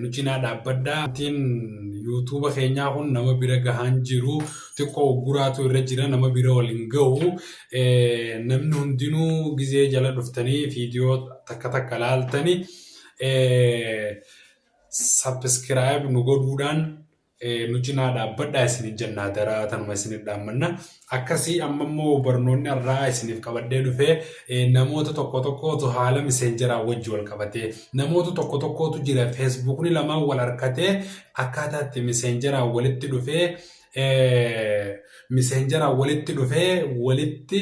Nu cinaa dhaabbadhaa. Maatiin yuutuuba keenyaa kun nama bira gahaan jiru xiqqoo ugguraatu irra jira nama bira wal hin gahu. Namni hundinuu gizee jala dhuftanii viidiyoo takka takka laaltanii sabskiraayib nu godhuudhaan nu cinaa dhaabbadhaa isiniin jenna adaraa tanuma isiniif dhaammanna. Akkasii amma immoo barnoonni har'aa isiniif qabadhee dhufee namoota tokko tokkootu haala miseenjeraa wajji wal qabatee namoota tokko tokkootu jira feesbuukni lamaan wal harkatee akkaataa itti miseenjeraa walitti dhufee miseenjeraa walitti dhufee walitti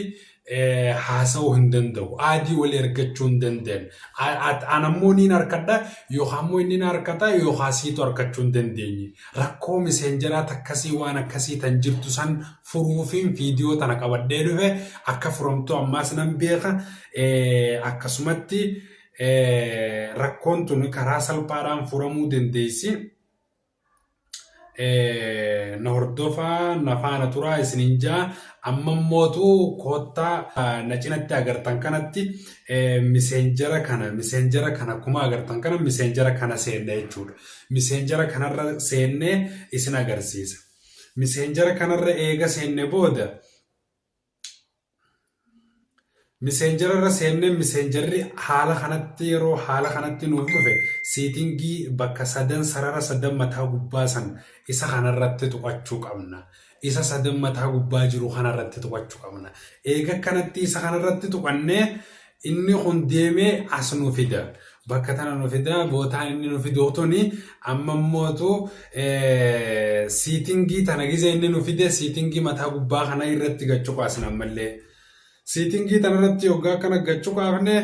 haasa'uu hin danda'u. Aadii wal ergachuu hin dandeenye. An ammoo niin harkadha yookaan ammoo inni na harkata yookaan siitu harkachuu hin dandeenye. Rakkoo miseenjaraa takkasii waan akkasii tan jirtu san furuufiin viidiyoo tana qabadhee dhufe akka furamtuu ammaas nan beeka. Akkasumatti rakkoon tun karaa salphaadhaan furamuu dandeessi. Eh, na hordofaa na faana turaa isinin jaa amma immootu koottaa ah, na cinatti agartan kanatti eh, miseenjara kana miseenjara kana kuma agartan kana miseenjara kana seenne jechuudha miseenjara kanarra seennee isin agarsiisa miseenjara kanarra eega seenne booda Miseenjara irra seennee miseenjarri haala kanatti yeroo haala kanatti nuuf dhufe siitingii bakka sadan sarara sadan mataa gubbaa san isa kanarratti tuqachuu qabna. Isa sadan mataa gubbaa jiru kanarratti tuqachuu qabna. Eega akkanatti isa kanarratti tuqannee Inni kun deemee as nu fida. Bakka tana nu fida. Bootaan inni nu fidu tuni amma immootu siitingii tana gizee inni nu fide siitingii mataa gubbaa kana irratti gachuu kaasna ammallee. Siitingii tana irratti yoggaa akkana gachuu kaafne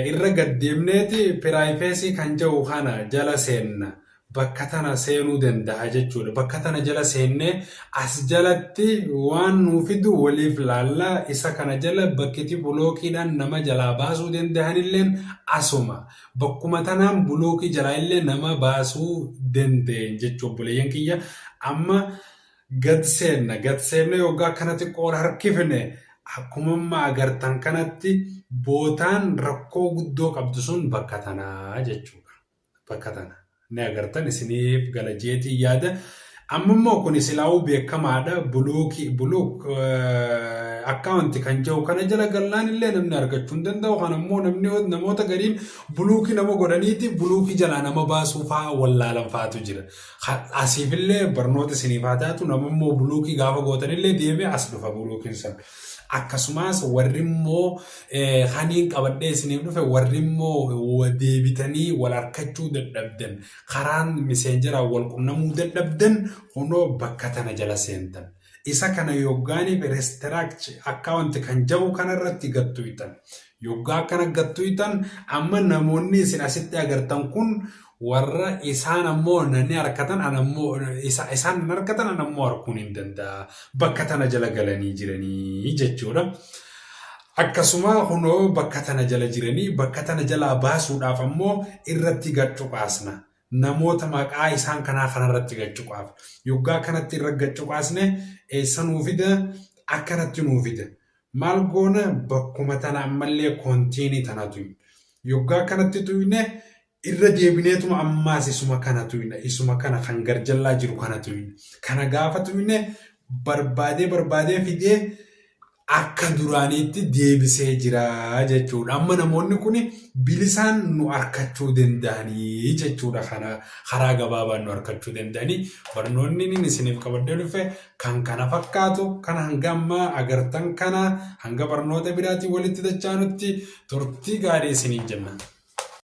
irra gad deemneeti piraayifeesii kan jedhu kana jala seenna. bakka tana seenuu danda'a jechuudha. Bakka tana jala seennee as jalatti waan nuu fidu waliif laalla. Isa kana jala bakkiti bulookiidhaan nama jalaa baasuu danda'anilleen asuma. Bakkuma tanaan bulookii jalaa illee nama baasuu danda'een jechuu obboleeyyan kiyya. Amma gad seenna. Gad seennee yoggaa akkana xiqqoo ol harkifne akkuma amma agartan kanatti bootaan rakkoo guddoo qabdu sun bakka tanaa jechuudha. bakka tana ni agartan isiniif gala jeetii yaada amma immoo kun silaa'uu beekamaadha buluuki buluuk akkaawunti kan jiru kana jala gallaan illee namni argachuu hin danda'u kan immoo namni namoota gariin buluuki nama godhaniiti buluuki jalaa nama baasuu fa'aa wallaalan fa'aatu jira asiif illee barnoota isiniif haa taatu nama immoo buluuki gaafa gootan illee deebi'ee as dhufa buluukiin sana. Akkasumaas warri immoo kaniin qabadhee isiniif dhufe warri immoo deebitanii wal harkachuu dadhabdan karaan miseenjaraan wal qunnamuu dadhabdan kunoo bakka tana jala seentan. Isa kana yoggaaniif restiraakch akkaawunti kan jahu kanarratti gattuytan. Yoggaa akkana gattuytan amma namoonni isin asitti agartan kun Warra isaan ammoo na ni arkatan an ammoo isa- isaan nan arkatan an ammoo arkuun hin danda'a. Bakka tana jala galanii jiranii jechuudha. Akkasuma kunoo bakka tana jala jiranii bakka tana jalaa baasuudhaaf ammoo irratti gad cuqaasna. Namoota maqaa isaan kanaa kanarratti gad cuqaafna. Yoggaa kanatti irra gad cuqaasne eessa nuu fida akkanatti nuu fida. Maal goona bakkuma tana ammallee kontiinii tana tuyna. Yoggaa kanatti tuyne Irra deebineetuma ammaas isuma kana tuyna, isuma kana kan garjallaa jiru kana tuyna. Kana gaafa tuyne barbaadee barbaadee fidee akka duraaniitti deebisee jira jechuudha. Amma namoonni kun bilisaan nu arkachuu danda'anii jechuudha. Kana karaa gabaabaan nu arkachuu danda'anii barnoonni inni isiniif qabadee dhufe kan kana fakkaatu kan hanga ammaa agartan kana hanga barnoota biraatiin walitti dachaanutti turtii gaarii isiniin jenna.